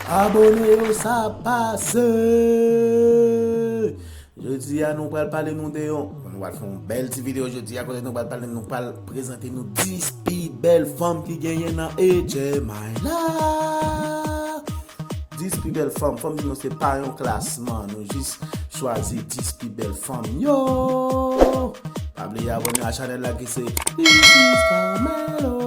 Abone yo sa ap pase. Jodia nou pral pale nou de yon Nou pral fè yon bèl ti video jodia kote nou pral pale nou pral prezante nou 10 pi bèl fanm ki genyen nan HMI la 10 pi bèl fanm, fanm di nou se pa yon klasman nou jis chwazi 10 pi bèl fanm yo Pa bliye abone a chanèl la ki se This is Carmelo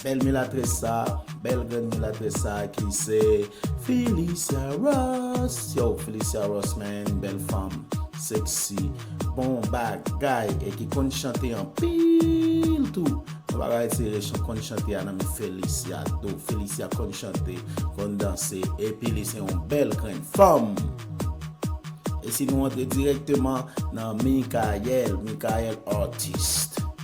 Bèl milatrès sa, bèl grenn milatrès sa ki se Phyllisia Ross yow Phyllisia Ross man bèl fanm sexy bon bagay e ki konn chante anpil tou nou pa ka retire chan konn chante a nan men Phyllisia tou Phyllisia konn chante konn danse epi li se yon bèl grenn fanm e si nou antre dirèkteman nan Mikaël Mikaël Artiste.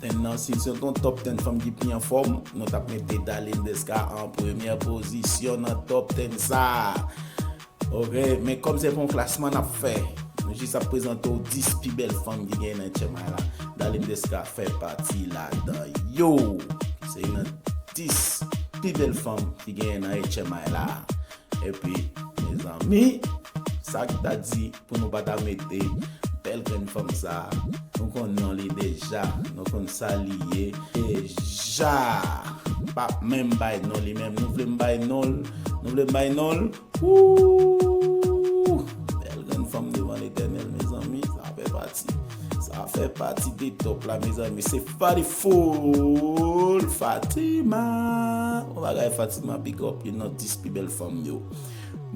Ten nan si se t yon top ten fanm ki pi anfòm nou tap mete Darline Desca an premyè pozisyon nan top ten sa ok men kòm se pa yon klasman nap fè nou jis ap prezante w 10 pi bèl fanm ki genyen nan Chiang Mai la Darline Desca fè pati ladan yo se yon nan 10 pi bèl fanm ki genyen nan Chiang Mai la epi mezanmi sak ta di. Pou nou pa ta mete bèl grenn fanm sa Nou konn non li deja Nou konn sa li ye deja M pap menm bay non li menm Nou vle m bay non l Nou vle m bay non l Ooh Bèl grenn fanm devan letènèl mezanmi Sa fè pati Sa fè pati de top la mezanmi Se Farifool Fatima Bon bagay Fatima big up Youn nan 10 pi bèl fanm yo.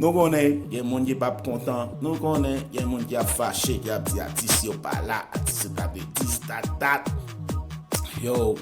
Nou konnen gen moun ki pap kontan, nou konnen gen moun ki ap fache, ki ap di atis yo pa la, atis yo ta dwe dis, ta dat. Yow,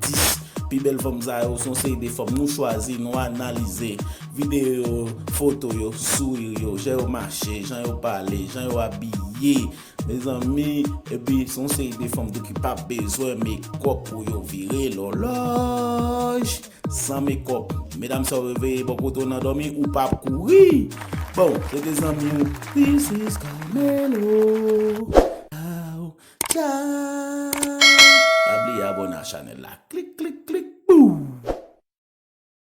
10 pi bèl fanm sa yo, son seri de fanm nou chwazi, nou analize, videyo yo, foto yo, souri yo, jan yo mache, jan yo pale, jan yo abiye, mezanmi, epi son seri de fanm tou ki pap bezwen mekòp pou yo vire lòlòj. San mekòp. Medam sa w reveye bò kote w nan dòmi ou pa ap kouri. Bon, se te zanmi w. This is Carmelo Chow Chow. Pa bliye abone a chanèl la. Klik klik klik bou!